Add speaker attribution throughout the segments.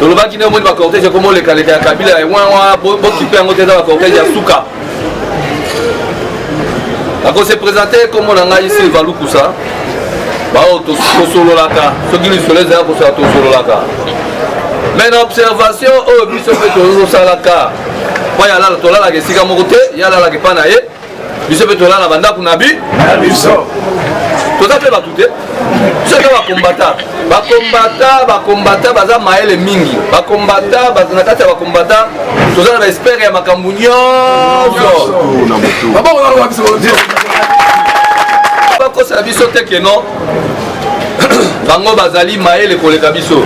Speaker 1: tolobaki nde omoni bacortège ekoma olekaleka ya kabila ya wawa bokipe yango te eza bacortège ya suka nakose présente nkombo na ngai silva lukusa baoyo tosololaka soki lisolo ezali kosola tosololaka mai na observation oyo biso mpe tozosalaka mpo yalalaka tolalaka esika moko te yalalaka epa na ye biso mpe tolala bandako na bi na biso
Speaker 2: toza
Speaker 1: mpe bato te biso eza bakombata bakombata bakombata baza mayele mingi bakombata na kati ya bakombata toza na baespere ya makambo nyonso bakosela biso te keno bango bazali mayele koleka biso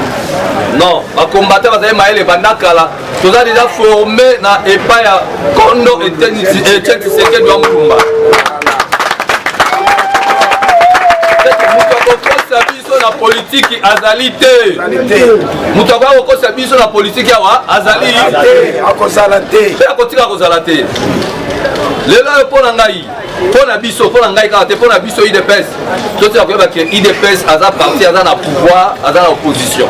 Speaker 1: non bakombata bazali mayele banda kala toza deja forme na epai ya kondo etienne tshisekedi wa mulumba na politiki azali te moto akoya kokosa biso na politiki awa azali te akozala te mpe
Speaker 2: akotika kozala te
Speaker 1: lelo oyo mpo na ngai mpo na biso mpo na ngai kaka te mpo na biso idps totika koyeba ke idps aza parti aza na pouvoir aza na opposition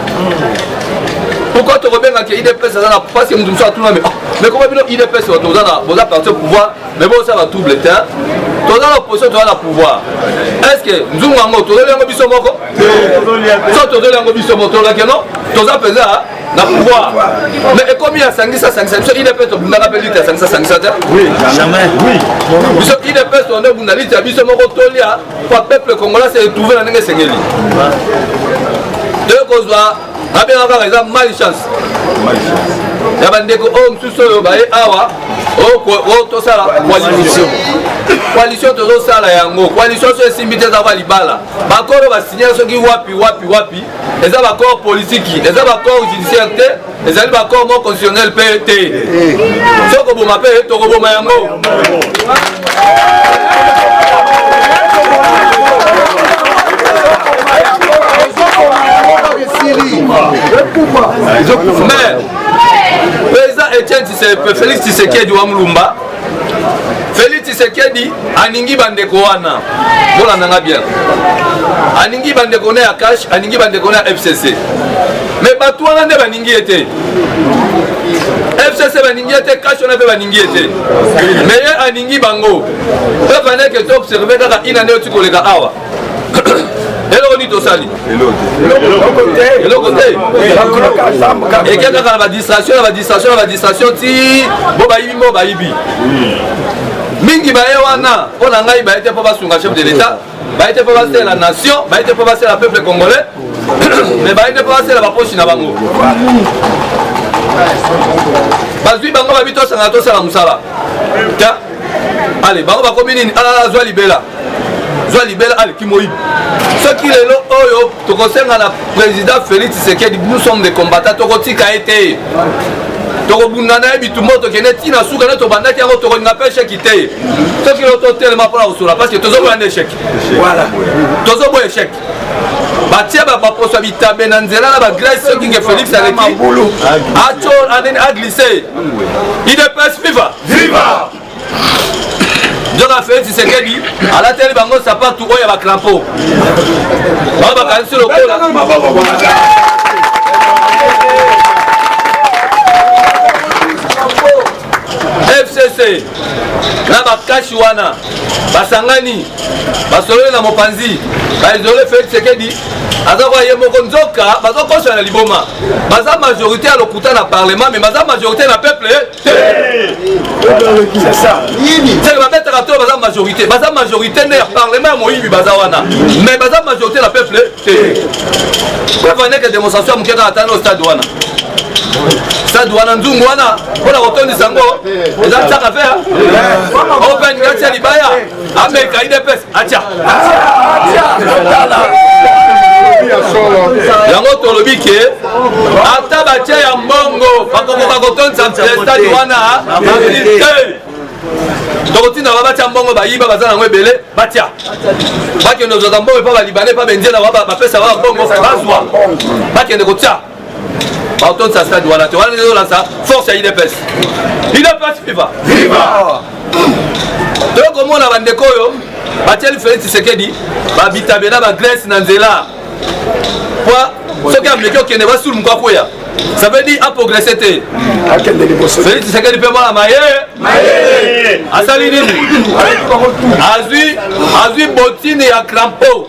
Speaker 1: pourquoi tokobenga ke idps aza na parce que moto mosusu atuna me ah, mais koma bino idps bato boza parti au pouvoir mais bosala double te toza na opposition toza na pouvoir est ce que nzungu yango tozoli yango biso moko so tozoli yango biso moko tolobaki no toza mpenza na pouvoir mais ekomi ya sangisa sangisa biso idps tobundaka mpe lite ya sangisa sangisa te
Speaker 2: biso idps
Speaker 1: tonde obunda lite ya biso moko tolia mpo peuple congolais se retrouve na ndenge esengeli toye kozwa abengaka kaka eza mal chance ya bandeko oyo mosusu oyo baye awa oyo tosala coalition coalition tozosala yango coalition so esimbi te ezaka libala bakolo basignale soki wapi wapi wapi eza baaccord politiki eza baaccord judiciaire te ezali baaccord moko constitutionnel mpe te soki koboma mpe tokoboma yango mais président etienne félix tisekedi wa mulumba Felix Tshisekedi aningi bandeko wana, bolanda nga bien, aningi bandeko na ya cash, aningi bandeko na ya FCC, me bato wana nde baningi ye te. FCC baningi ye te, cash wana mpe baningi ye te, me ye aningi bango. Peuple aneke to observe kaka ina nde oti koleka awa eloko nini tosali eloko te eke kaka na badistraction na badistraction na badistraction ti bo bayibi mbo bayibi mingi baye wana mpo na ngai baye te mpo basunga chef de l'état baye te mpo basela nation baye te mpo basela peuple congolais mais baye te mpo basela baposi na bango bazwi bango babi tosangana tosala mosala ta ale bango bakomi nini alala ah, azwa libela zwa libela aleki moyibi soki lelo oyo tokosenga na président félix tshisekedi nous sommes des combattants tokotika ye te tokobunda na ye bitumba tokende ti na suka nde tobandaki yango tokolinga mpe esheki te soki lelo totelema mpona kosola parce que tozoboya nde esheki voilà tozoboya esheki batie baposo ya bitabe na nzela na bagrece soki nge félix aleki aglise idps viva viva nzoka felix tshisekedi alateli bango sapatu oyo ya bacrampo bango bakanisi lokola fcc na bakashi wana basangani basololi na mopanzi baizole felix tshisekedi aza koya ye moko nzoka bazokosana na liboma baza majorité ya lokuta na parlement mais baza majorité na peuple seke babetaka to baza majorité baza majorité nde ya parlement ya moyibi baza wana mais baza majorité na peuple te preuve aneke démonstration ya moke kaka ata no stade wana stade wana nzungu wana mpona kotondisa yango eza nsaka fe open gatia libaya ameka idps atia yango tolobi ke ata batia ya mbongo bakokoka kotondisa stade wana te tokotinda ba batya mbongo bayiba baza nango ebele batya bakende ozwaka mbongo epa balibane epa bendiela bapesa ba mbongo bazwa bakende kotya bakotonisa stade wana te wana ezolakisa force ya udps udps viva viva toyo komona bandeko oyo batieli felix tshisekedi babitabe na bagrèce na nzela po soki ameki okende basulu moko akweya ça veut dire aprogresse te felix tshisekedi mpe mwana mayele asali nini azwi botine ya crampo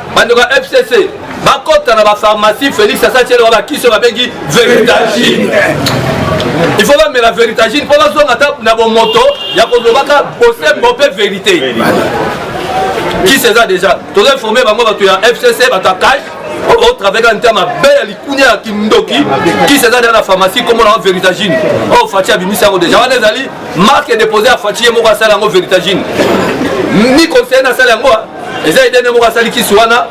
Speaker 1: bandeko ya fcc bakota na bapharmacie félix asatiele wa bakisi oyo babengi veritagine il faut bamela veritagine mpo bazonga ata na bomoto ya kolobaka bosembo mpe verité kisi eza déjà toza informe bango bato ya fcc bato ya cash otraveka oh, oh, nta mabe ya likunia ya kindoki kisi eza deya na pharmacie komona yango veritagine oyo oh, faci abimisi yango deja wana ezali marke depose ya faci ye moko asala yango veritagine ni conseiller nasala yango eza idee moko asali kisi wana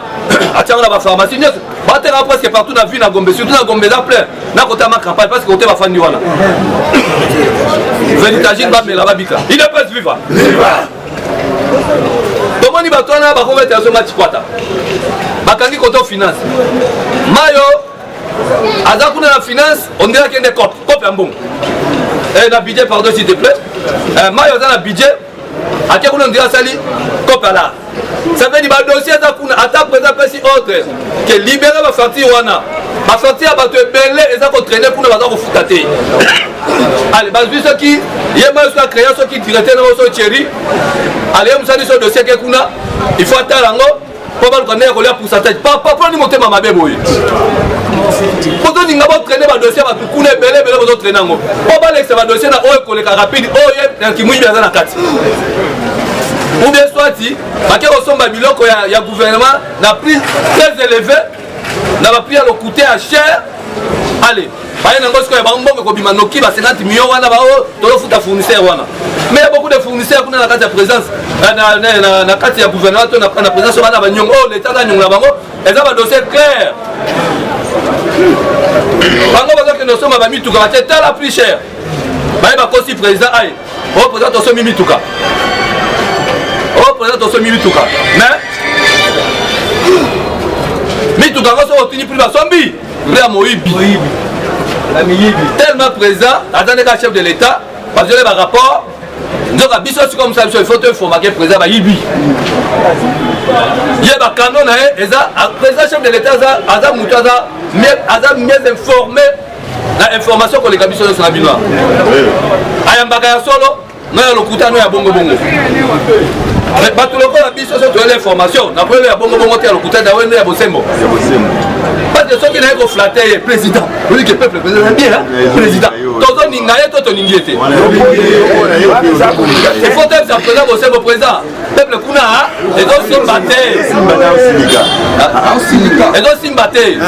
Speaker 1: atiango na bapharmacie nyonso bateka presque partout na vie na gombe surtout na gombe eza plein nakotama campagne parce que kote bafandi wana veritagine bamela babika idps viva tomoni bato wana bakobeta yaso matikwata bakangi koto finance mayo aza kuna na finance ondire akende cope cope ya mbongo eh, na budget pardon s'il te plaît eh, mayo aza na budget ake kuna ndira asali kopala savedi badossier aza kuna ata presa apesi ordre ke libere bafacture wana bafacture ya bato ebele eza kotraine kuna baza kofuta te ale bazwi soki ye moko soki akrea soki directeur na biso cheri ale ye mosali so dossier ke kuna il faut atala yango po baluka ndenge kolia pourcentage papa mpo nani motema mabe boye bozolinga botraine badossier bato kuna ebele ebele bozotraine yango po balekisa badossier na oyo ekoleka rapide oyo ye na kimwibi aza na kati ou bien soit bake kosomba biloko ya, ya gouvernement na prix très élevé na ba prix ya lokuta ya cher ale baye nango sikoyo bango mbongo ekobima noki ba 50 million wana bao oh, tozofuta fournisseur wana mais ya beaucoup de fournisseur kuna na kati ya présence na kati ya gouvernement to na présence oyo bana banyongo oyo oh, leta aza nyongo na bango eza badossier claire bango bazokende osomba bamituka bate tala plus cher baye bakosi président aye Oh président toso mimi tuka. Oh président toso mimi tuka. Mais mituka yango soki otuni prix basombi prix ya moyibi tellement président aza ndenge ya chef de l'état bazwele barapport nzoka biso sikoyo mosala biso ifo toinformake président bayibi ye bakano na ye eza président chef de l'état aza moto aza mieux informé na information koleka biso nyonso na bino ayambaka ya solo na ya lokuta no ya bongobongo bato lokola biso so toyeli information na koyelo ya bongobongo te ya lokuta da wendo ya bosembo parce soki naye koflate ye président oyoki peuple président bien président tozoninga ye to toningi ye te efo tebisa président bosembo président peuple kuna ezosimba te ezosimba te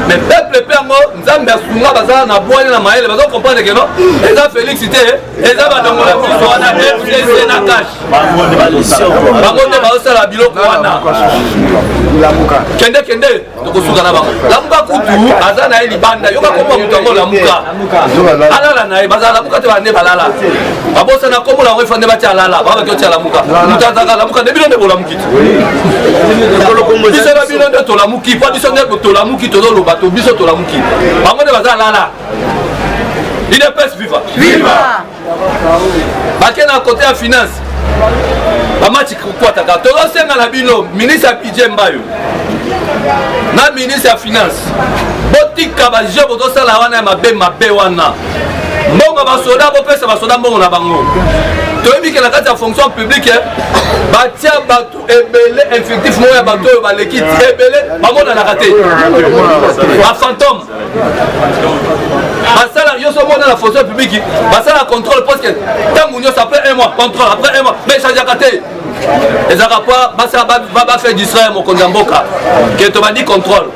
Speaker 1: mais peuple mpe yango nzambe asunga bazala na bwani na mayele bazo comprendre keno eza félix te eza badongola biso wana fcc na cash bango nde bazosala biloko wana kende kende tokosuka na bango lamuka kutu aza na ye libanda yoka kombo moto yango lamuka alala na ye bazala lamuka te bande balala babosana kombo yango efande batya alala babaki otya lamuka moto azaka lamuka nde bino nde bolamuki biso na bino nde tolamuki mpo biso nde tolamuki tozoloba to biso tolamuki bango nde baza alala idps viva viva bake na kote ya finance bamati kokwataka tozosenga na bino ministre ya budget mbayo na ministre ya finance botika bajeu bozosala wana ya mabe mabe wana mbongo basoda bopesa basoda mbongo na bango toyebi ke na kati ya fonction publique eh, batia bato ebele infectif moko ya bato oyo baleki ebele bamonanaka te bafantome basala nyonso mona na fonction publique basala contrôle parce que ntango nyonso après un mois contrôle après un mois mais echangeaka te ezalaka mpo basala bafaire distraire mokonzi ya mboka ke tobandi contrôle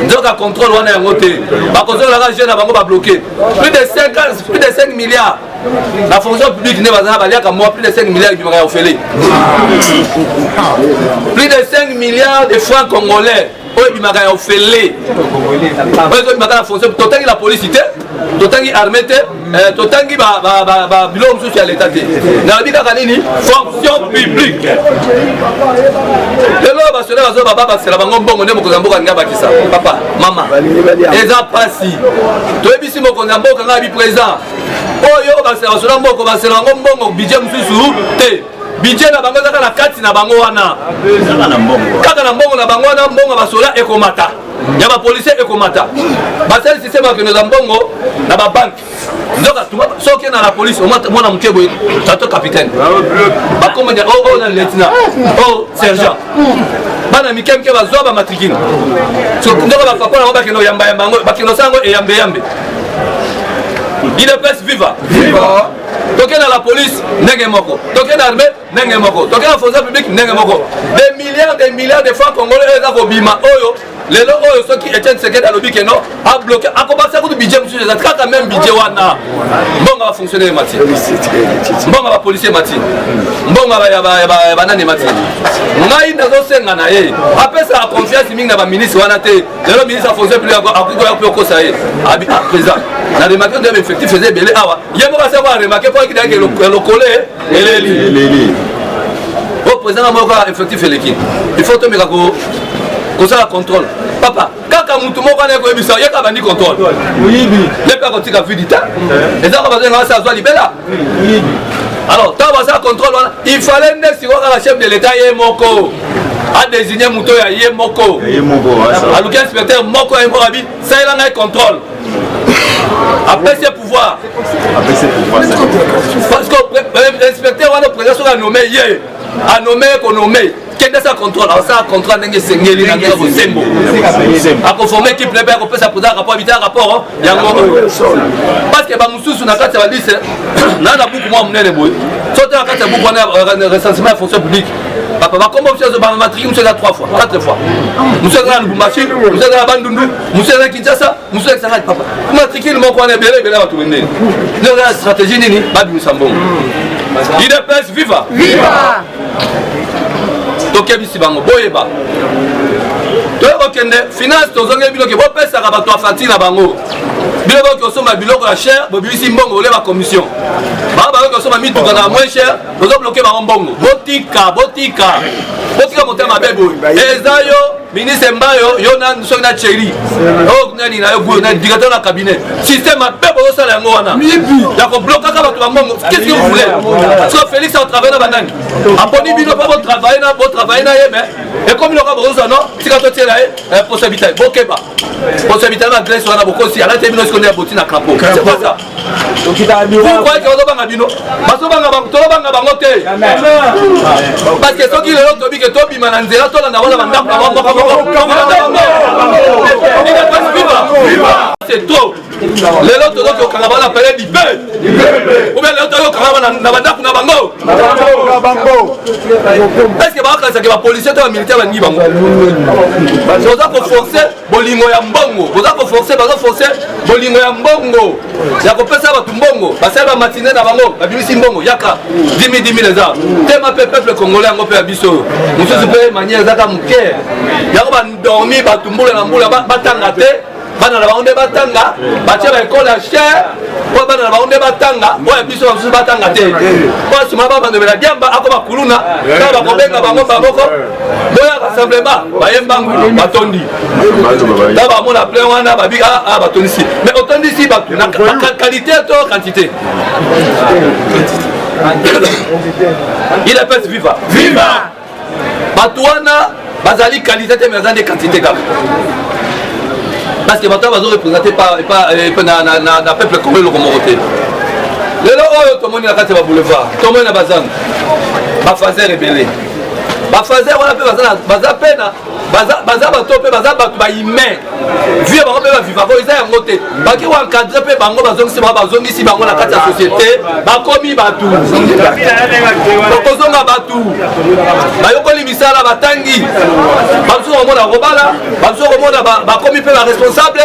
Speaker 1: nzoka contrôle wana yango te bakozongaka jeune na bango babloke plus de 5 milliards na fonction publique nde bazala baliaka mwa plus de 5 milliards ebimaka ya ofele plus de 5 milliards de francs congolais oyo ebimaka ya ofele oyo ezobimaka na fonction totangi la polisi te totangi armé te eh, totangi biloko mosusu ya leta te nalobi kaka nini fonction publique lelo oyo basoda bazo baba basela bango mbongo nde mokonzi ya mboka alingi abakisa papa mama eza mpasi toyebisi mokonzi ya mboka ngai abi présent oyo bazola mboko basela yango mbongo budget mosusu te budget na bango ezaka na kati na bango wana kaka na mbongo na bango wana mbongo basola ekomata ya bapolisie ekomata basali systeme ya kendeza mbongo na babanke nzoka soki na la police mwana moke boye tato capitaine bakomba oyo na lieutenant oyo sergent bana mike mike bazwa bamatrikile ndoko bapapa nango bakende oyambayamba yango bakende osala yango eyambeyambe idps viva toke na la police ndenge moko toke na armée ndenge moko toke na fonction publique ndenge moko des milliards des milliards de francs congolais oyo eza kobima oyo lelo oyo soki etienne tshisekedi alobi ke non abloke akobakisa kutu budget mosusu eza kaka meme budget wana mbongo ya bafonctionnaire mati mbongo ya bapolicier mati mbongo ya banani mati ngai nazosenga na ye apesaka confiance mingi na baministre wana te lelo ministre afonction public akoki koya mpe okosa ye abi a présent na remarke nde effectif eza ebele awa ye moko asako aremake mpo akidaki lokole eleli eleli o président na moko effectif eleki il faut tomeka ko kosala contrôle papa kaka motu moko wana ekoyebisa ye kaka bandi contrôle moyibi ye mpe akotika vidi te eh. eza kaka bazonga basi azwa libela alors ntango basala contrôle wana il fallait nde sikoyo kaka chef de l'état ye moko adesigne moto ya ye moko aluki inspecteur moko ya moko abi salela ngai contrôle apesi pouvoir parce que euh, inspecteur wana président soki anome ye anome konome kende sa contrôle asala contrat ndenge esengeli na ndenge bosembo akoforme équipe lebe akopesa président rapport abita rapport yango parce que bamosusu na kati ya balise na na buku mwa monene boye so te na kati ya buku wana euh, recensement ya fonction publique papa bakombo mosusu azobama matriki mosusu eza 3 fois 4 fois mosusu eza na lubumbashi mosusu eza na bandundu mosusu eza kinshasa mosusu ya kisangani papa matricule moko wana ebele ebele bato bendeni nde oza na stratégie nini babimisa mbongo idps viva viva tokebisi bango boyeba toye kokende finance tozongeli bino ke bopesaka bato ya facture na bango bino boki kosomba biloko ya cher bobimisi mbongo oleba commission bango bayoki kosomba mituka na moins cher bozobloke bango mbongo botika botika botika motema mabe boye eza yo ministre mbayo yo na soki na cheri oyo nani na yo guyo na directeur na cabinet système mabe bozosala yango wana ya koblokaka bato bango qu'est-ce que vous voulez so félix atravaille na banani aponi bino mpo botravaille na botravaille na ye mais ekomi loka bokozwa no tika totiela ye eh, posa bitali bokeba posa bitali na grèce wana bokosi alati ye bino sikoyo nde ya boti na crapaud c'est pas ça okitaabiroyeke ozobanga bino bazobanga bango tolobanga bango te parce que soki lelo tobi ke tobima na nzela tolanda wana bandako na bango c'est trop lelo tozoki okanga bana pele libe oubien lelo tozoki okanga bana na bandako na bango est ce que baakanisake bapolicier to bamilitaire balingi bango oza koforce bolingo ya mbongo boza koforce bazo force bolingo ya mbongo ya kopesa bato mbongo basali bamatine na bango babimisi mbongo yaka dimi dimi eza tema mpe peuple congolais yango mpe ya biso oyo mosusu mpe maniere ezaka moke yango bandormi bato mbula na mbula batanga te bana na bango nde batanga batye baekole ya chere mpo bana na bango nde batanga oyo ya biso bamosusu batanga te mpo asuma babandobela diamba akoma kuluna ntango bakobenga bango bamoko boya rassemblement baye mbangu batondi ta bamona plein wana babi aa ah, ah, batondisi mais otondisi bato na qualité to quantité il epese viva viva bato wana bazali qualité te mais aza nde quantité kaka parce que bato bazo représente euh, na peuple congo eloko moko te lelo oyo tomoni na kati ya baboulevard tomoni na bazando bafaser ebele bafaze wana mpe baza mpe na baza bato mpe baza bato bahumain vie bango mpe bavivaka eza yango te baki koencadre mpe bango bazongisi bango bazongisi bango na kati ya société bakomi bato bakozonga bato bayokoli misala batangi bamosusu komona kobala bamosusu komona bakomi mpe baresponsable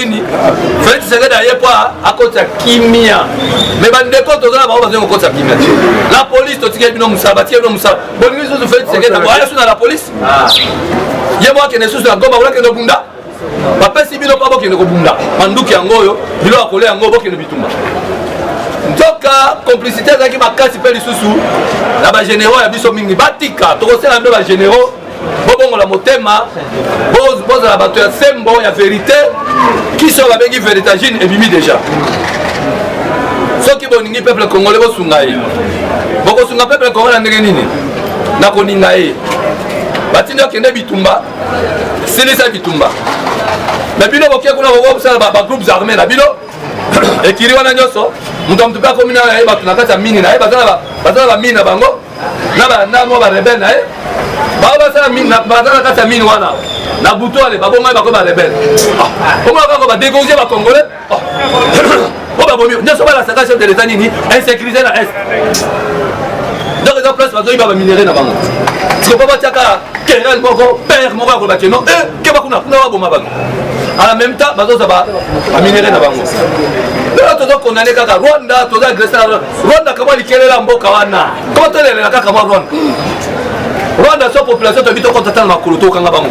Speaker 1: nini felix tshisekedi aye mpo akotisa kimia me bandeko toza na bango bazongi kokotisa kimia te la polise totikeli bino mosala batikeli bino mosala bolingi lisusu felix tshisekedi akoya su na la polise ah. ye moko akende susu na goma bolakende obunda bapesi bino mpo bokende kobunda manduki yango oyo bilo ya kolia yango bokende bitumba nzoka complicité ezalaki makasi mpe lisusu na bagénéraux ya biso mingi batika tokosela mpe bagénéraux bobongola motema bozala bato ya sembo ya verite kisi oyo babengi veritagine ebimi deja soki bolingi peuple congolais bosunga ye bokosunga peuple congolais na ndenge nini na koninga ye batindi okende bitumba silisa bitumba me bino boke kuna bokosala bagroupes armé na bino ekiri wana nyonso moto ya moto mpe akomi nayo na ye bato na kati ya mini na ye baza na bamini na bango na balanda mwa barebele na ye bao basala baza na kati ya mine wana na butu ale babomai bako barebele ah, omona kaka badegorge bacongolais ah. po babomi nyonso balasaka chef de leta nini insécurité na est donc eza place bazoyiba baminerai na bango sikopo batiaka terrain moko père moko ya koloba keno e eh, keba kuna kuna baboma bato à la même temps bazoza baminerai na bango lelo tozo condamne kaka rwanda toza agresse na rwanda Rwanda kama likelela mboka wana kotelela kaka mwa Rwanda Rwanda so population tobi tokota tala makolo tokanga bango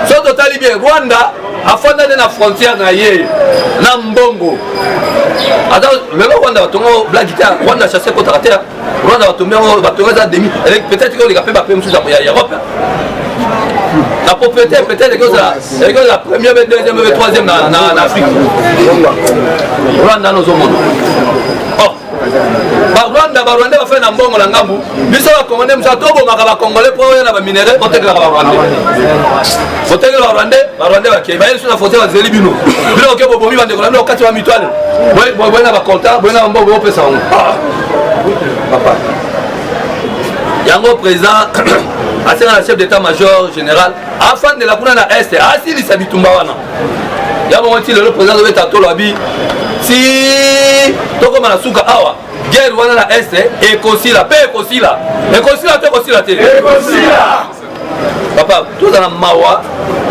Speaker 1: so totali bien Rwanda afanda nde na frontière na ye na mbongo aza lelo Rwanda batongo blagita Rwanda chasse kotaka te Rwanda batombi yango batonga eza demi avec peut-être que oleka pe ba pe mususu ya Europe la propriété peut-être que ça et que la première et deuxième et troisième na na na Afrique Rwanda no zomono oh ba Rwanda ba Rwanda ba fait na mbongo na ngambu biso ba congolais musa to bomaka ba congolais po ya na ba minerais ko tekela ba Rwanda ko tekela ba Rwanda ba Rwanda ba ke ba yesu na fote ba zeli bino bino ke bobomi ba ndeko na bino kati ba mitwale boye boye na ba compta boye na mbongo bo pesa ngo papa yango président asenga na chef d'état major général afandela kuna na este asilisa bitumba wana ya bongo ti lelo président azobeta tolo abi ti tokoma na suka awa guerre wana na este ekosila mpe ekosila ekosila to ekosila te ekosila papa toza na mawa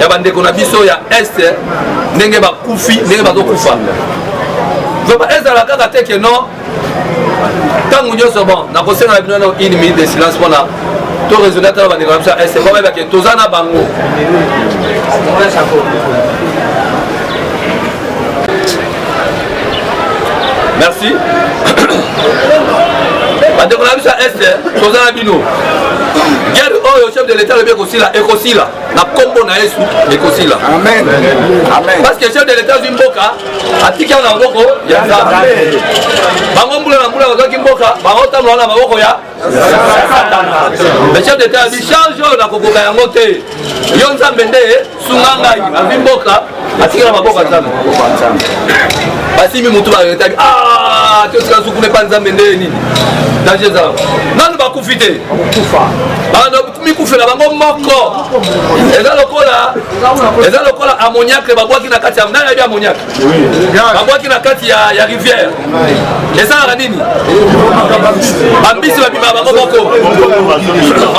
Speaker 1: ya bandeko na biso ya est ndenge bakufi ndenge bazokufa vraiment ezala kaka te ke non ntango nyonso bon nakosenga na bino na une minute de silence mpona to raisonne ata na bandeko na biso ya est mpo bayebake toza na bango merci bandeko na biso ya este toza na bino guerre oyo chef de l'état alobi ekosila ekosila na nkombo na yesu ekosila parce que chef de l'état azwi mboka atiki yango na maboko ya nzambe bango mbula na mbula bazwaki mboka bango ntango wana na maboko ya chef d'etat abi charge oyo nakokoka yango te yo nzambe nde sunga ngai azwi mboka atikela maboko ya nzambe basimi motu baretaki ah, totika nsuku nepa nzambe nde nini danger eza nanu bakufi te mikufela bango moko eza lokola eza lokola amoniacle babwaki na kati ya nani yabi amoniacle babwaki na kati ya, ya rivière ezalaka nini bambisi babima bango moko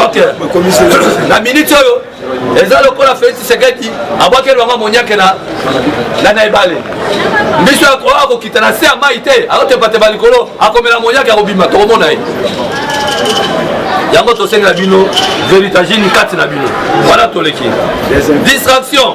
Speaker 1: ok na miniti oyo eza lokola felix tshisekedi abwaki elwanga moniake na na ebale mbisi oyo akokita na se ya mai te akotebateba likolo akomela moniake akobima tokomona ye yango tosengela bino veritagine kati na bino wana toleki distraction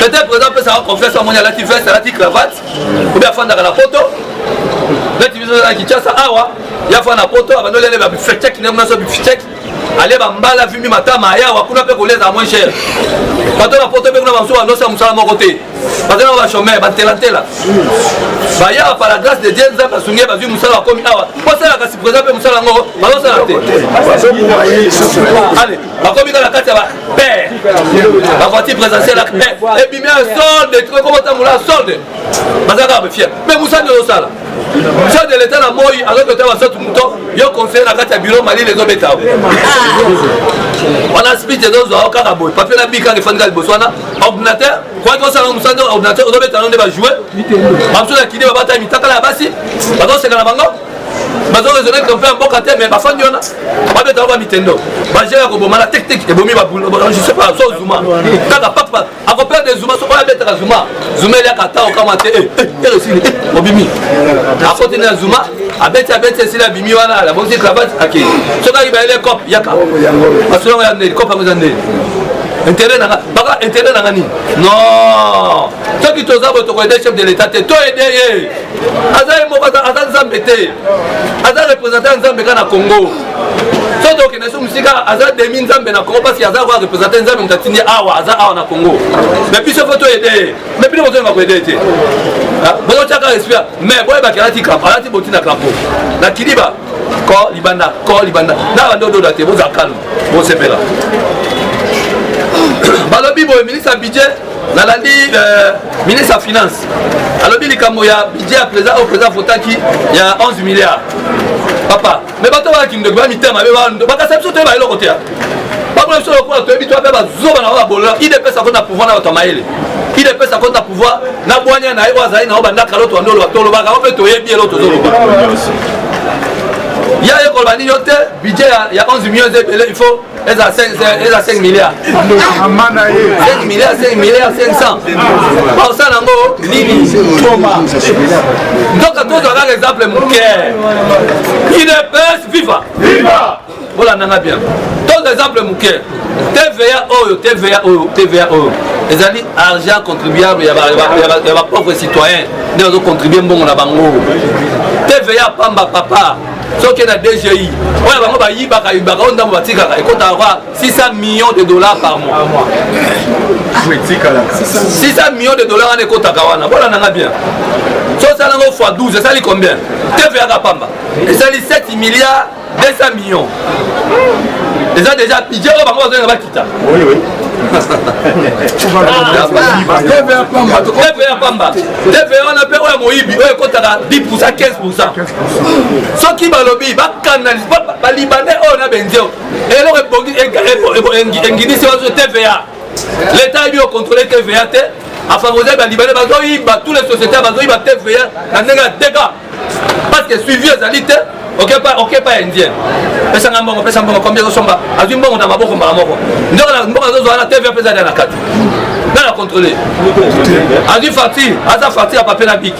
Speaker 1: peut-être président apesaka confiance amoni alati veste alati cravate obi afandaka na poto neti biso na kinshasa awa ya fana poto abandi olele babifecheki ndenge nyonso bifecheki ale bambala vimbi matama ayawa kuna mpe koleza moins cher bato na poto mpe kuna bamosusu balosa mosala moko te baza na bachomeur bantelantela bayawa par la grâce de dieu nzambe asungi ye bazwi mosala bakomi awa bosalaka si présent mpe mosala yango bazosala te bakomi kaka kati ya ba père bavoiture présidentielle ebimi ya solde ekokotambola solde baza kaka bafiere mais mosani ozosala chef de l'état na moi azokota basotu moto yo conseiller na kati ya bureau malili ezobeta wana speech ezozwa yo kaka boye papier na bi kaka efandi kaka liboso wana ordinateur kwaki osala mosala ordinateur ozobeta yango nde bajoue bamosusu na kini babata mitakala ya basi bazoseka na bango bazo raisonner que mpe mboka te mais bafandi wana babetaka ba mitendo baje ya koboma na tektik ebomi je sais pas so zuma kaka papa akoperde zuma soko abetaka zuma zuma eliaka ata okama te eresili eh, eh, eh, obimi akoti na zuma abeti abeti esili abimi wana abongisi cravate akei soki ayiba ele cop yaka basolongo ya ndeli cop yango eza ndeli intérêt nanga baka intérêt nanga nini non soki toza bo tokoede chef de l'état te toede ye aza ye moko aza nzambe te aza représentant ya nzambe kaka na congo so tokende so mosika aza demi nzambe na congo parce aza koya représentant nzambe moto atindi awa aza awa na congo mais biso fo toede ye mais bino bozolinga koede ye te ah, bozotyaka respect mais boyebaki alati kampo alati botina kampo na kiliba ko libanda ko libanda na bando ododa te boza calme bosepela balobi boye ministre ya budget nalandi euh, ministre ya finance alobi likambo ya budget ya président oyo président avotaki ya 11 milliard papa me bato baya kindeko ba mitema mabe bakasa biso toyeba eloko te bakona biso lokola toyebi to mpe bazoba na bango babolela idps akoti na pouvoir na bato ya mayele idps akoti na pouvoir na bwanya na ye oyo azali na yo bandaka loto ya ndolo batolobaka o mpe toyebi eloko tozoloba ya ye koloba nini yo te budget ya 11 millions ebele il faut eza 5 milliard 5 milliard 5 milliard 500 baosala yango nini nzoka tozwa kaka exemple moke udps viva bolanda nga bien tozwa exemple moke tva oyo tva oyo tva oyo ezali argent contribuable ya bapauvre citoyen nde bazocontribue mbongo na bango tva pamba papa soki na dgi oyo bango bayibaka yibaka oyo ndambo batikaka ekotaka kwa 600 millions de dollars par mois 600 millions de dollars wana ekotaka wana bona nanga bien so osala yango fois 12 esali combien tv yaka pamba esali 7 milliards 200 millions eza déjà pidje oyo bango bazolinga bakita tv ya pamba tv wana mpe oyo ya moyibi oyo ekotaka 10 15 soki balobi bakanalise balibane oyo na benzeo eloko ebongi enginisi bazo tva leta ayebi okontrole tva te afavorise balibane bazoyiba tous les société bazoyiba tva na ndenge ya teka parce que suivi ezali te okepa indien pesanga mbongo pesa mbongo kombi ezosomba azwi mbongo na maboko mbala moko nzoka mbongo azozwa na tv apesa lia na kati nana controle azwi facture aza facture ya papier na biki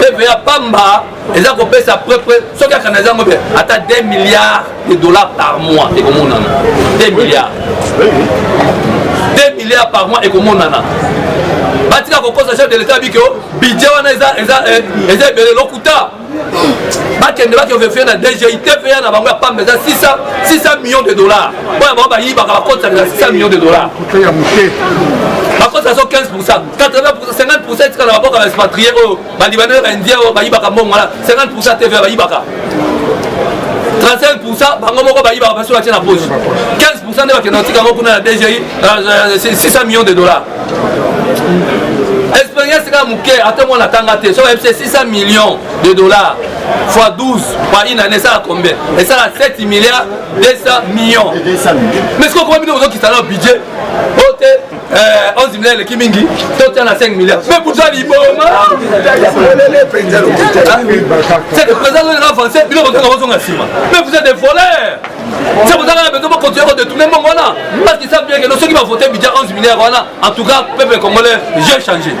Speaker 1: TVA pamba eza kopesa prepre soki akana ezango mpe ata 2 milliards de dollars par mois ekomonana 2 milliards 2 milliards par mois ekomonana batika kokosa chef de l'état abiki o budget wana eza eh, ebele lokuta bakende bakeovefie na dgi tva na bango ya pamba eza 600 millions de dollars oyo bango bayibaka bakotisa na 600 millions de dollars bakotisa so 15 pourcent 80% etikala baboka ba expatrié oyo balibanais ba indien oyo bayibaka mbongo wana 50% tva bayibaka 35% bango moko bayibaka basi batie na poche 15% nde bakenda kotika yango kuna na dgi 600 millions de dollars expérience kaka moke ata mwana atanga te soki ayebisa 600 millions de dollars fois 12 par une année esala combien esala 7 milliards 200 millions mais soki okoma bino ozokisa na budget oyo te Eh, 11 milliards eleki mingi totya na 5 milliards mpe kuta liboma seke président oyo na avance bino bozonga bozonga nsima mpe vous êtes des voleurs se bozanga na besoin bakontinue kodetourne mbongo wana parce qu'ils savent bien que no soki bavote budget 11 milliards wana en tout cas peuple congolais jeu changé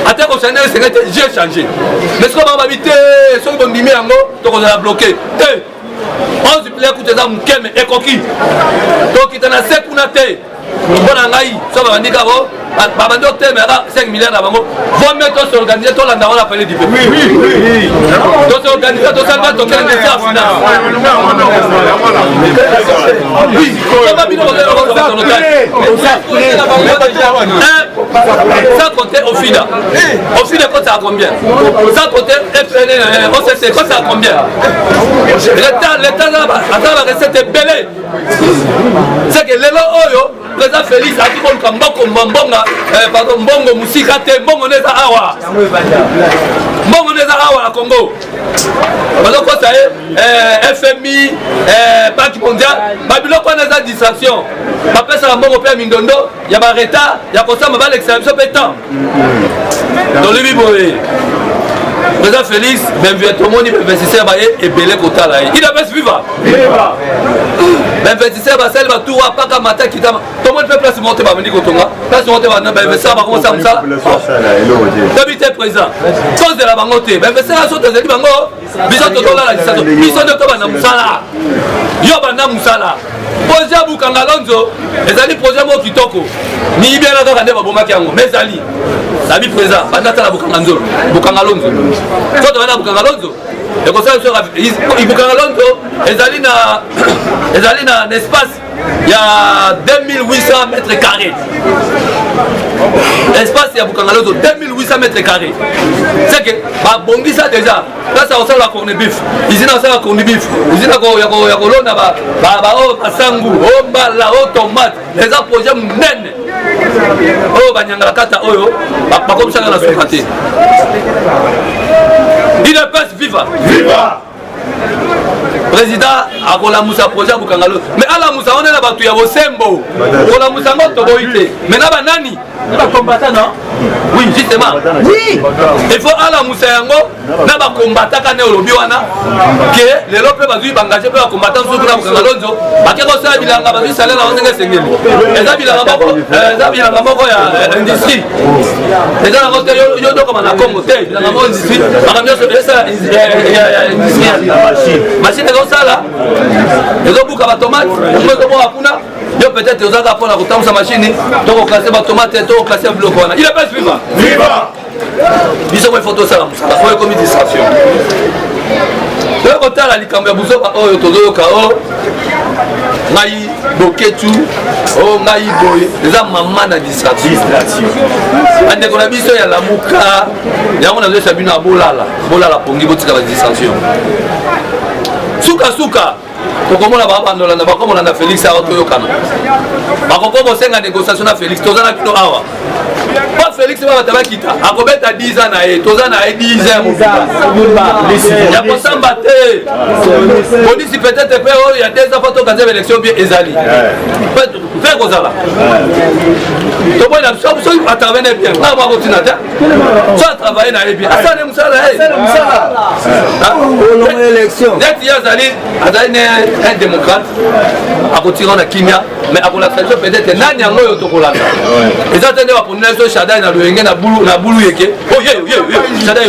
Speaker 1: ata kosana esenge te jeu changé mais soki bango babi te soki bondimi yango tokozala bloqué te 11 play kutu eza moke me ekoki tokita na se kuna te mpo na ngai so babandi kako babandi otemela 5 milliard na bango vome tosorganise tolanda wana pele dipe tosorganise tosalba tokende mesi ya finance oba bino sans compter ofida ofida ekotaka combien sans compter fn occ ekotaka combien leta leta aza na recette ebele seke lelo oyo président félix akoki koluka mboko mbonga eh, pardon mbongo mosika te mbongo nde eza awa mbongo nde eza awa na congo bazokosa ye eh, fmi eh, banque mondiale babiloko wana eza distraction bapesaka mbongo mpe ya mindondo ya baretard ya kosamba balekisaka biso mpe temps tolobi boye président félix benvie tomoni bainvestisseur baye ebele kotala ye idps viva bainvestisseur basali batu wa paka mata kitama tomoni mpe place moko te babandi kotonga place moko te bainvestisseur bakomosala mosala tobi te président tozela bango te bainvestisseur nyonso tozali bango biso tozolala lisaso biso nde toba na mosala yo banda mosala projet ya bukanga lonzo ezali projet moko kitoko miyibi yana kaka nde babomaki yango ma ezali nabi président banda tala bukanga nzolo bukanga lonzo so toza na bukanga lonzo ekosala biso bukanga lonzo ezali na ezali na espace ya 2800 mètre carré espace ya bukangalozo 2800 mètre carré c'est que babongisa déjà place ya kosalela corne bif usine ya kosalela corne bif usine ya kolona baoyo oh, masangu o oh, mbala o oh, tomate eza projet monene oyo banyangala kata oyo bakomisaka na suka te idps viva viva président akolamusa projet ya kokanga loso me alamusa wana na bato ya bosembo kolamusa yango toboyi te me na banani bacombatant non oui justement oui il faut alamusa yango na bacombatant kane olobi wana ke lelo mpe bazwi bangage mpe bacombatant mosusu na kokanga lonzo bake kosala bilanga bazwi salere yango ndenge esengeli eza bilanga moko eh, eza bilanga moko ya eh, industrie eza yango te yo dokoma na congo te bilanga moko industrie makambo nyonso mashine ezosala ezobuka batomate yango ezoboka kuna yo peut-être ozalaka mpona kotambusa mashine to koklase batomate to koklase biloko wana il epes viva viva biso mo ifo tosala mosala oyo ekomi distraction toye kotala likambo ya buzoba oyo tozoyoka o oh, ngai boketu o oh, ngai boye eza mama na distraction bandeko na biso ya lamuka yango nazolesa bino ya bolala bolala pongi botika ba distraction sukasuka tokomona babandola na bakomona na felix awa toyokana bakokoba bosenga négociation na felix toza na kino awa mpo felix babata bakita akobeta 10 ans na ye toza na ye 10 ans ya kosamba te polisi peut-être mpe oyo ya 2 ans mpo tokanzeba élection bie ezali mpe ekozala toboyi na biso soki atravene bien ngai mwa kotina te so atravane na ye bien asali mosala neti ye azali azali ne un démocrate akotira na kimia mais akolakisa biso peut-être nani yango oyo tokolanda eza te nde baponi na biso shadai na loyenge na bulu yeke oye oh, shadai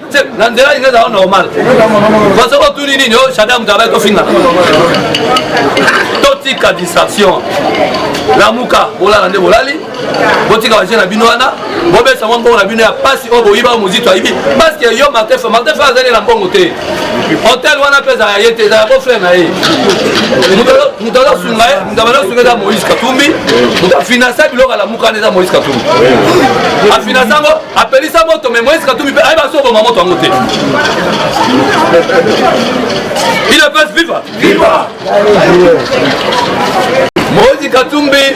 Speaker 1: na nzela lingi ezala normal basoki otuni nini o shada moto abaki ofingana totika distraction lamuka bolala nde bolali botika baje na bino wana bobesa mwa mbongo na bino ya mpasi oyo boyiba mozito ayibi paske yo martefe martefe azali na mbongo te hotel wana mpe ezala ye te ezala bofre na ye moto azosunga ye moto abanda osunga eza moïse katumbi moto afinansa biloko alamukana eza moïse katumbi afinansa yango apelisa moto me moise katumbi mpe ayeba so oboma moto yango te il a pas viva viva moise katumbi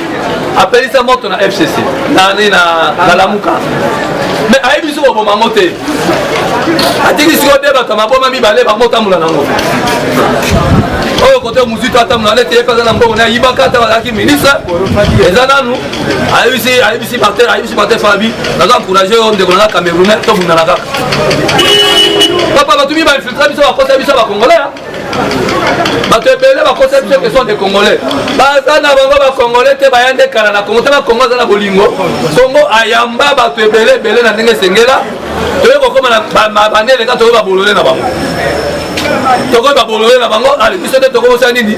Speaker 1: apelisa moto na fcc nani na kalamuka me ayebi so oboma yango te atiki sikoyo nde bato ya maboma mibale bango otambola nango oyo kote mozito atambola nde te ye mpe aza na mbongo na ayibaka ata bazalaki ministre eza nanu ayebisi ayebisi martin ayebisi martin fabi naza encourage yo ndeko naza camerounais tobundana kaka papa bato mi bainfiltre biso bakota biso bacongolais bato ebele bakosa biso question de congolais baza na bango bacongolais te baya nde kala na congo te bakongo aza na bolingo congo ayamba bato ebele ebele na ndenge esengela toye kokoma na bande eleka toye babolole na bango tokoki babolole na bango ale biso nde tokobosala nini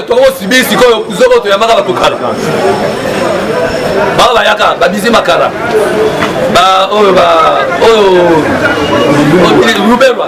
Speaker 1: tokobosibi sikoyo zoko toyambaka bato kala bango bayaka babizi makala baoyo oyo lubelwa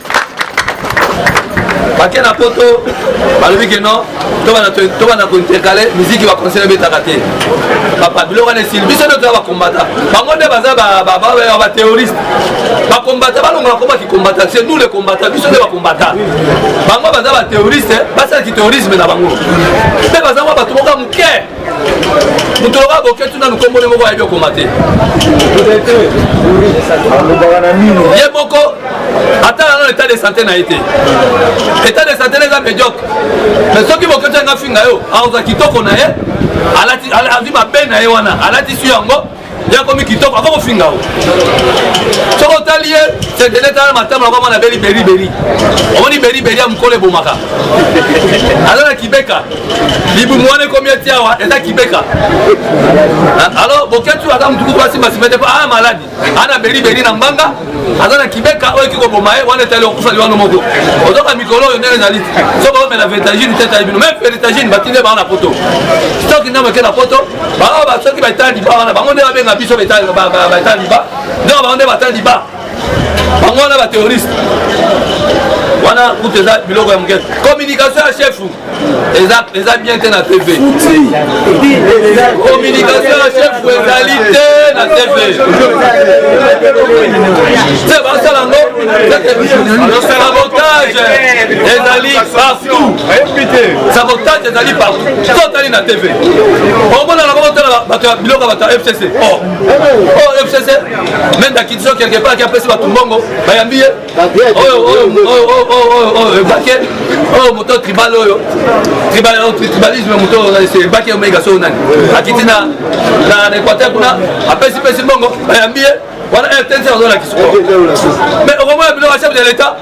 Speaker 1: bake na poto balobi ke non tobanda kointercale miziki baconseil ebetaka te papa biloko wana esili biso nde toza bakombata bango nde baza baterroriste bakombata balongola koma kikombata se nous le kombata biso nde bakombata bango baza baterroriste basala kiterrorisme na bango mpe baza mwa bato moka moke moto loka boke tuna lukombo ne moko ayebi okoma te ye moko ata nano etat de santé na ye te etat de santé na eza mediocre mais soki boke to yanga finga yo aoza kitoko na ye azwi mabe na ye wana alati su yango ye akomi kitoko aza kofinga o soki otali ye sedele tala matama nakoma na beli beriberi omoni beriberi ya mokolo ebomaka aza na kibeka libumu wana ekomi eti awa eza kibeka alo boketu aza motukutu asimbasimba te mpo aa maladi ana beriberi na mbanga aza na kibeka oyo ekoki koboma ye wana etali okufa liwano moko ozoka mikolo oyo ndenge ezali so baomela vertagine te etali bino meme vertagine batinde bango na poto stoki ndambo eke na poto bango basoki baetala liba wana bango nde babenga biso baetala liba donc bango nde batala liba bango wana baterroriste wana kutu eza biloko ya moke communication ya chefu eza eza bien te na tv communication ya chef ezali te na tv te basala ngo sabotage ezali partout sabotage ezali partout to otali na tv omona na kobotala bato ya biloko bato ya fcc o fcc mendakitiso quelque part ki apesi bato mbongo bayambi ye oyo moto tribal oyo tribalisme moto ebaki omega soo nani akiti na équateur kuna apesi pesi mbongo bayambi ye wana rtnc bazolakisa mais okomona bino ba chef de l'état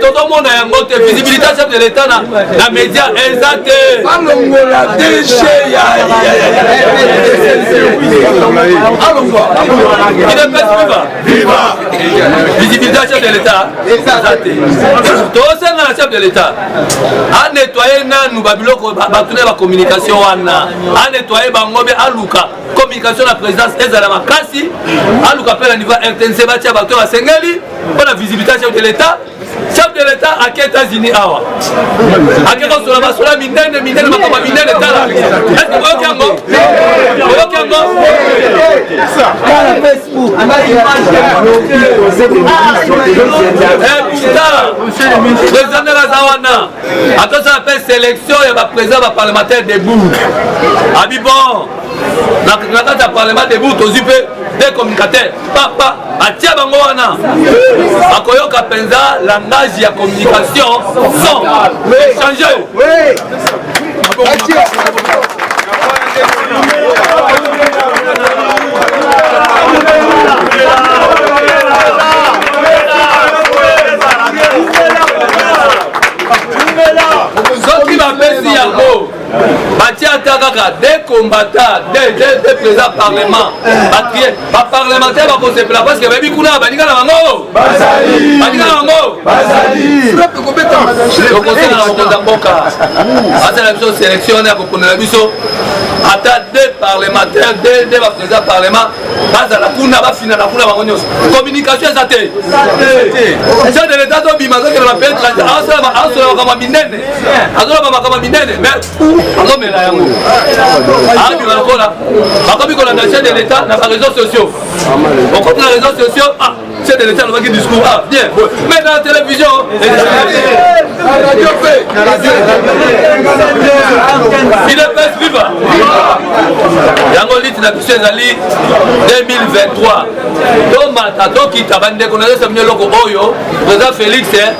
Speaker 1: tozomona yango te visibilité ya chef de l'état na média eza te alongola dg ya alongwa idepesi viva Viva! Visibilité ya chef de l'État eza te. Tosenga na chef de l'État a nettoyer nanu ba biloko bato na ba communication wana a nettoyer bango be aluka communication na présidence ezala makasi aluka mpe na niveau ya rtnc batya bato oyo basengeli mpo na visibilité ya chef de l'État chef de l'etat ake états-unis awa ake kosola basola minene minene makambo minene tala eske boyoki yango boyoki yango président aza wana atosala mpe sélection ya bapresident baparlementaire debout abi bon na kati ya parlement debout tozwi mpe de communicateur papa atia bango wana akoyoka mpenza langage ya communication son échange batia ata kaka de combattant de président parlement batrie baparlementaire bakosepela parce que bayebi kuna baninga na bango baninga na bango tokosala na mokonzi ya mboka asala biso sélection wana ya koponela biso ata de parlementaire de baprésident parlement bazala kuna bafinana kuna bango nyonso communication eza te chef de l'état tobima azokende na pays étranger asola makambo ya minene azoloba makambo minene me azomela yango abima lokola bakomi kolanda chef de l'état na bareseau sociaux okomi na réseau sociaux ah, chef de l'état alobaki discours ah bien mais na télévision idps viva yango liti na biso ezali 2023 tomata tokita bandeko nazesa bino eloko oyo toza félix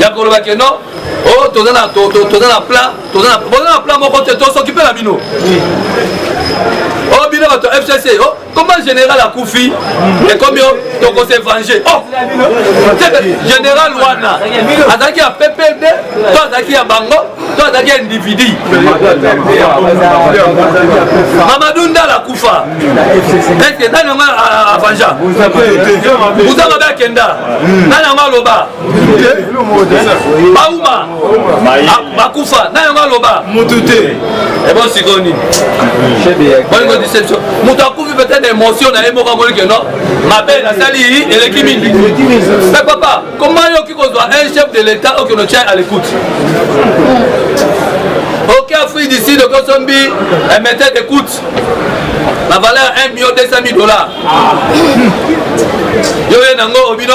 Speaker 1: ya koloba ke non o oh, toza na plan toza na plan moko te tosokipe na bino o oh, bino bato ya fcc o oh, comment général akufi ekomi o tokose venge o général wana azalaki ya ppd to azalaki ya bango to azalaki ya individu mamadou ndala akufa eske nani yango avanja buza mabe akenda nani yango aloba bauma bakufa na yango aloba mutu te ebo eh sikoyo nini bolingo deception moto akufi peut-être émotion na ye moko amoni ke non mabe nasali eleki mingi mais papa koma yoki kozwa un chef de l'état oyo keno tya à l'écoute ok afrique du sud okosombi un métier d'écoute la valeur 1 million 200 000 dollars yo ye nango obino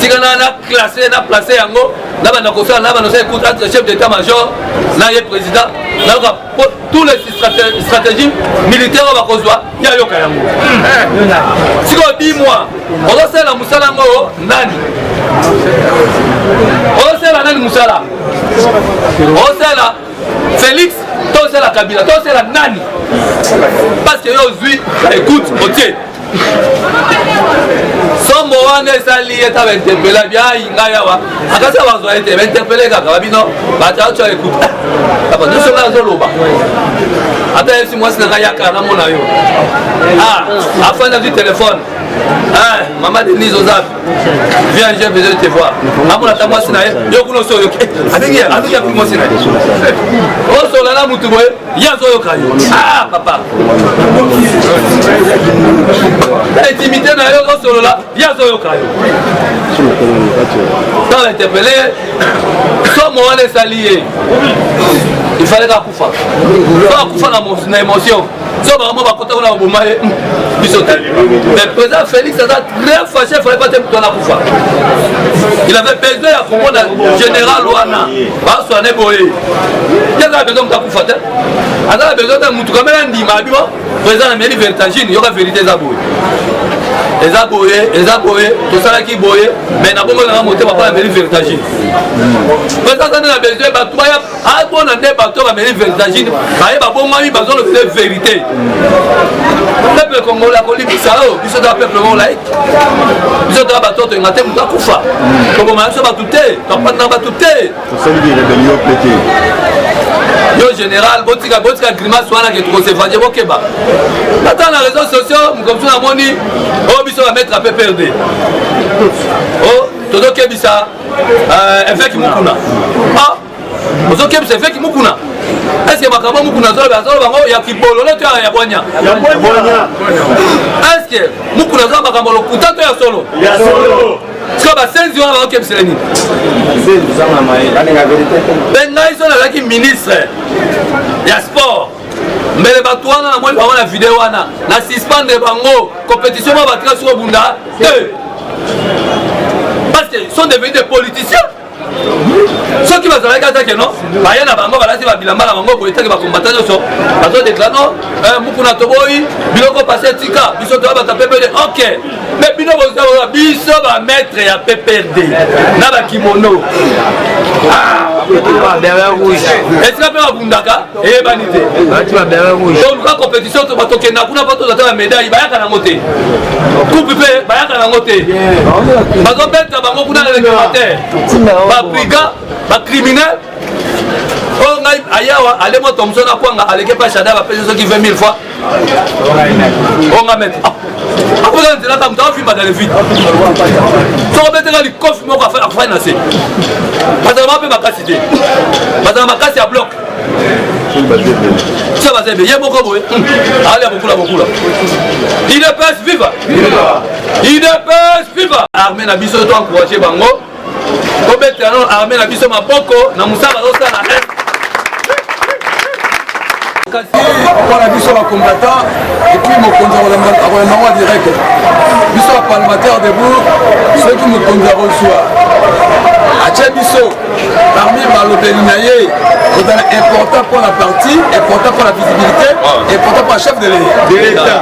Speaker 1: tika na na classe na place yango na banda kosala na banda osala écoute entre chef d'état major na ye président nayoka po tous les stratégie militaire oyo bakozwa ye ayoka yango eh. sikoyo di moi ozosalela mosala yango oyo nani ozosalela nani mosala ozosalela félix tosala kabila tosala nani parce que yo ozwi na écoute otie sombo wana esali ye ta bainterpela biai ngai awa akasi ya bazwa ye te bainterpele kaka babino batyaotya ekuta kaka nyonso ngai azoloba ata yesi mwasi na ngai yaka namona yo ah, afandi azwi telefone eh, mama denise oza viens j'ai besoin de te voir amona ta mwasi na ye yo kuna osoyoki abengi abengi akuti mwasi na ye osola na motu boye ye azoyoka yo ah papa na intimité na yo osolola ye azoyoka yo tala interpele somo wana esali ye il fallait akufa akufa na émotion so bango bakota kuna baboma ye hmm, biso te mais président félix aza très fâché fallait pas te moto wana kufa il avait besoin ya komona général wana baswane boye te aza na besoin moto akufa te aza na besoin te motu kamela ndima abi bo président na meli vertagine yoka vérité eza boye eza boye eza boye tosalaki boye mais na bongo nanga motema mpo na meli vertagine président aza nde na besoin bato baya abona nde bato oyo bameli vertagine baye babongami bazolobela verité peuple congolais akolibisa oyo oh, biso toa peuple moko laiki biso toa bato oyo toyenga te moto akufa toboma biso bato te topandaka bato te yo général botika botika grimace wana ke tokosevanje bokeba ata na réseau sociaux mokomsu namoni oyo oh, biso bametre ape perde o oh, tozokebisa eveki mokuna ozokebisa eveki mokuna eske makambo mokuna azoloba azoloba bango ya kibolole to ya bwanya eske mokuna azoloba makambo lokuta to ya solo sikoyo basenzi wana bakokebisela nini mpe ngai so nazalaki ministre ya sport mbele bato wana namoni bango na video wana na suspendre bango compétition ma batika soko bunda te parce que sont devenus des politiciens soki bazalaki ata ke no baya na bango balati babilamba na bango boye teke bakombata nyonso bazodeklare no eh, mokuna toboyi biloko pase tika biso toya bata pepele ok mais bino bozaoa biso bamaître ya pprd na bakimono esika mpe babundaka eyebani te toluka compétition tokenda kuna mpo tozata na médaille bayaka nango te coupe mpe bayaka nango te bazobeta bango kuna na réglementaire babriga bacriminel oyo oh, ngai ayawa ale moto mosusu na kwanga aleke mpa shada bapesi soki 20 000 fois oyo oh, ngai mete ah. akozala nzela ntango moto afimba na levite soko beteka likofi moko afai na se bazala mape makasi te bazala makasi ya bloke tia bazembe ye moko boye hmm. alia bokula bokula idps viva idps viva arme na biso to encourage bango tobetela nano arme na biso maboko na mosala bazosala eh.
Speaker 3: kasi mpona biso bacombattant epuis mokonzi akolanda yango ya direct biso bapalmataire debout soki mokonzi akozwa atye biso parmi balobeli na ye kozala important mpo na parti important mpo na visibilité important mpo na chef de l'etat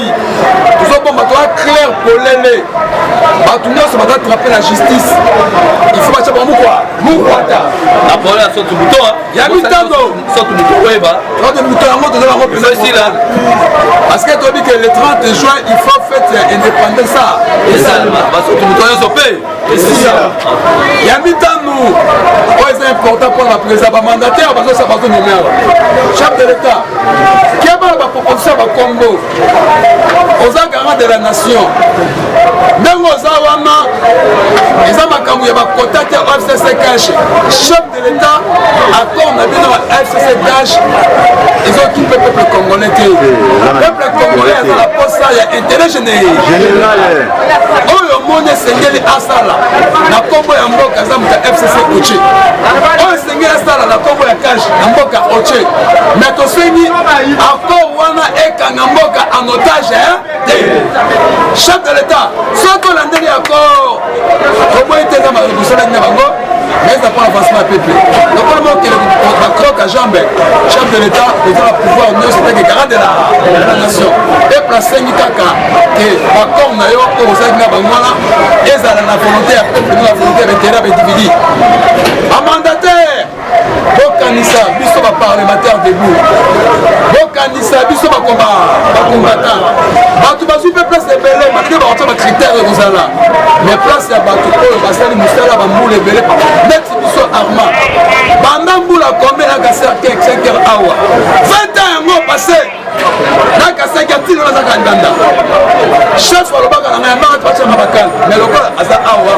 Speaker 3: tozobomba toza clair polele bato nyonso baza trape na justice il faut batya bango mokwa mokwata na pole ya soki buto ya mitambo soki buto oyeba soki buto yango toza bango mpenzaesila parce que toyebi ke le 30 juin il faut fete ya indépendance esalema basoki buto nyonso mpe esiya ya mitano oyo eza important mpo na président bamandataire bazosa bazonomera chef de l'état keba na baproposition ya bakombo oza garant de la nation ndenge oza wana eza makambo ya bakota te fcc cash L'État, accord na bino na FCCDH, ils ont tout le peuple congolais te. Le peuple congolais aza na posa ya intérêt général. Oyo omoni esengeli asala na kombo ya mboka aza moto ya FCC Oche. Oyo esengeli asala na kombo ya cash na mboka Oche. Mais tosengi accord wana ekanga mboka en otage te. Chef de l'État, soki olandeli accord toboyi te nga bosalaki na bango mais na mpona avancement ya peuple lokola mokele bacroke ya jambe chef de l'état eza na pouvoir nyonso teke garant de la nation peuple asengi kaka ke bacom na yo oyo osalaki na bango wana ezala na volonté ya peuple na volonté ya baintérêt ya baindividu bamandataire bokanisa biso baparlementaire debout bokanisa biso bakombata bato bazwi mpe place ebele malgre bakotya bakritere ekozala mais place ya bato oyo basali mosala bambula ebele neti biso arma banda mbula kombe na kaser kekseker awa 20 ans yango passe na kasaki atino naza kandanda chef alobaka na ngai amaka twacanga bakana me lokola aza awa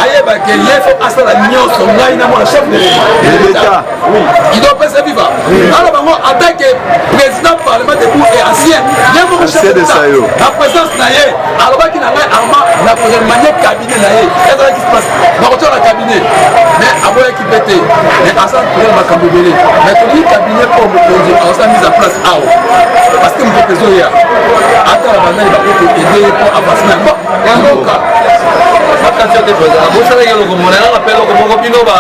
Speaker 3: ayebake ye fo asala nyonso ngai na mwana chef de leta ido pesa viva alo bango atake président parlement debout et ancien ye moko chef na présence na ye alobaki na ngai arma na koremanien cabinet na ye ezalaki place bakotyola cabinet mais aboyaki mpe te mais aza kolala makambo ebele mais tolingi kabine mpo mokonzi aosa mise en place awa parce que mopepe ezoya ata na bandani bakoki ede ye mpo avance na yango yangoka bakati yo te mpenza
Speaker 1: bosala ye loko mona yanga mpe loko moko bino ba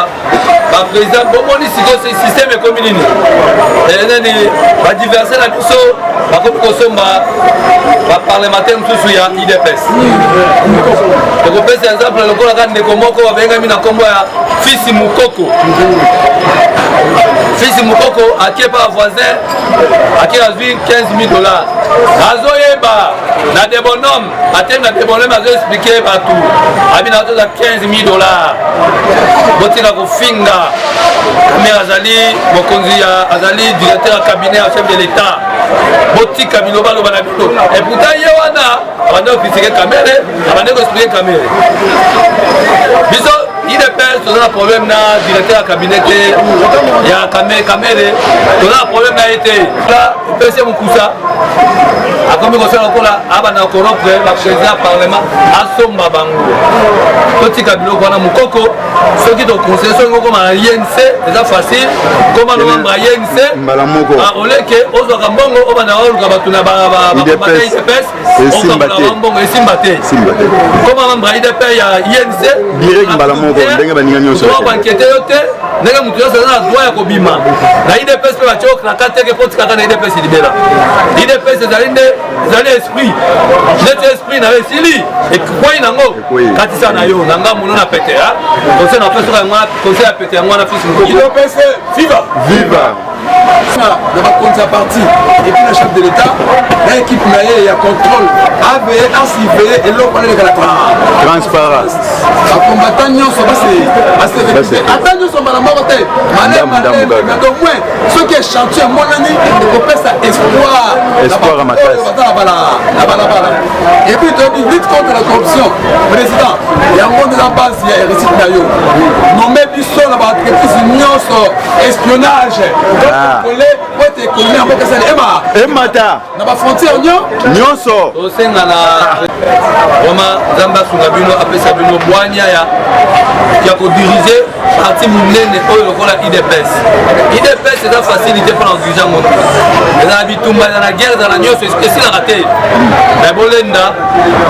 Speaker 1: baprésident bomoni sikoyo systeme ekomi nini eh, nani badiverse na biso bakomi kosomba baparlementaire mosusu ya idps tokopesa exemple lokola ka ndeko moko babengami na nkombo ya fisi mukoko fisi mukoko akie pa voisin akie azwi 15 000 dollars azoyeba na debonome atemi na debonome azoexplike bato abi na toza 15 000 dollars botika kofinga kamere azali mokonzi azali directeur ya cabinet ya chef de l'état botika bilobaloba na Et pourtant ye wana abandaki kofisike kamere abandaki koexplike kamere biso idps toza na problème na directeur ya cabinet te ya kamere toza na problème na ye te epesi ye mokusa akomi kosala lokola abanda koropre bapresident ya parlement asomba bango totika biloko wana mokoko soki tokonseye soki okoma na inc eza facile koma novembre ya te mbala moko ah, oleke ozwaka mbongo obanda oluka bato na baidps esimba te mbongo esimba te koma membre ya idps ya inc direct mbala moko ndenge baninga nyonso bankete yo te ndenge moto nyonso aza na droit ya kobima na idps mpe batye okraka teke mpo otikaka na idps libela idps ezali nde ezali esprit neti esprit na yo esili ekwei nango katisa na yo na nga mono na pete ya conseil na pesa yango conseil ya pete yango wana fils mokopese
Speaker 3: viva viva na bakonzi ya parti epuis na chef de l'état na équipe na ye ya contrôle aveye asiveye eloko wana elekala transparence
Speaker 4: bakombata
Speaker 3: nyonso baserekite ata nyonso mbala moko te malemalemedo moins soki echantier emonani ekopesa espoir espoir makasi baza na balabala et puis toyebi lutte contre la corruption président yango nde na base ya réussite na yo nome biso na baentreprise nyonso espionnage tokole po ete ekonomi yango kesali ema emata na
Speaker 4: bafrontière
Speaker 3: nyo nyonso tosenga na
Speaker 1: vraimen nzambe asunga bino apesa bino bwania ya ya kodirige parti monene oyo lokola idps idps eza facilité mpo na kodirige yango eza na bitumba eza na guerre eza na nyonso esilaka te me bolenda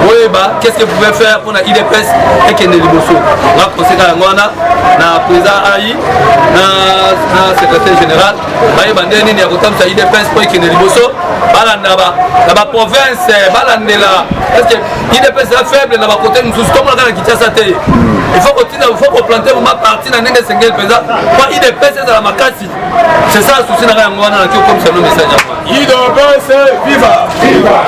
Speaker 1: boyeba qu'est ce que pouvait faire mpo na idps ekende liboso nga koseka yango wana na président ai na secrétaire général bayeba nde nini ya kotambisa idps mpo ekende liboso balanda na baprovince balandela parceke idps eza faible na bakote mosusu tomonaka na kinshasa te il faut kotina il faut koplante vraimen parti na ndenge esengeli mpenza mpo idps ezala makasi c'est ça susi na ngai yango wana naki
Speaker 3: okomisa
Speaker 1: no message yango idps viva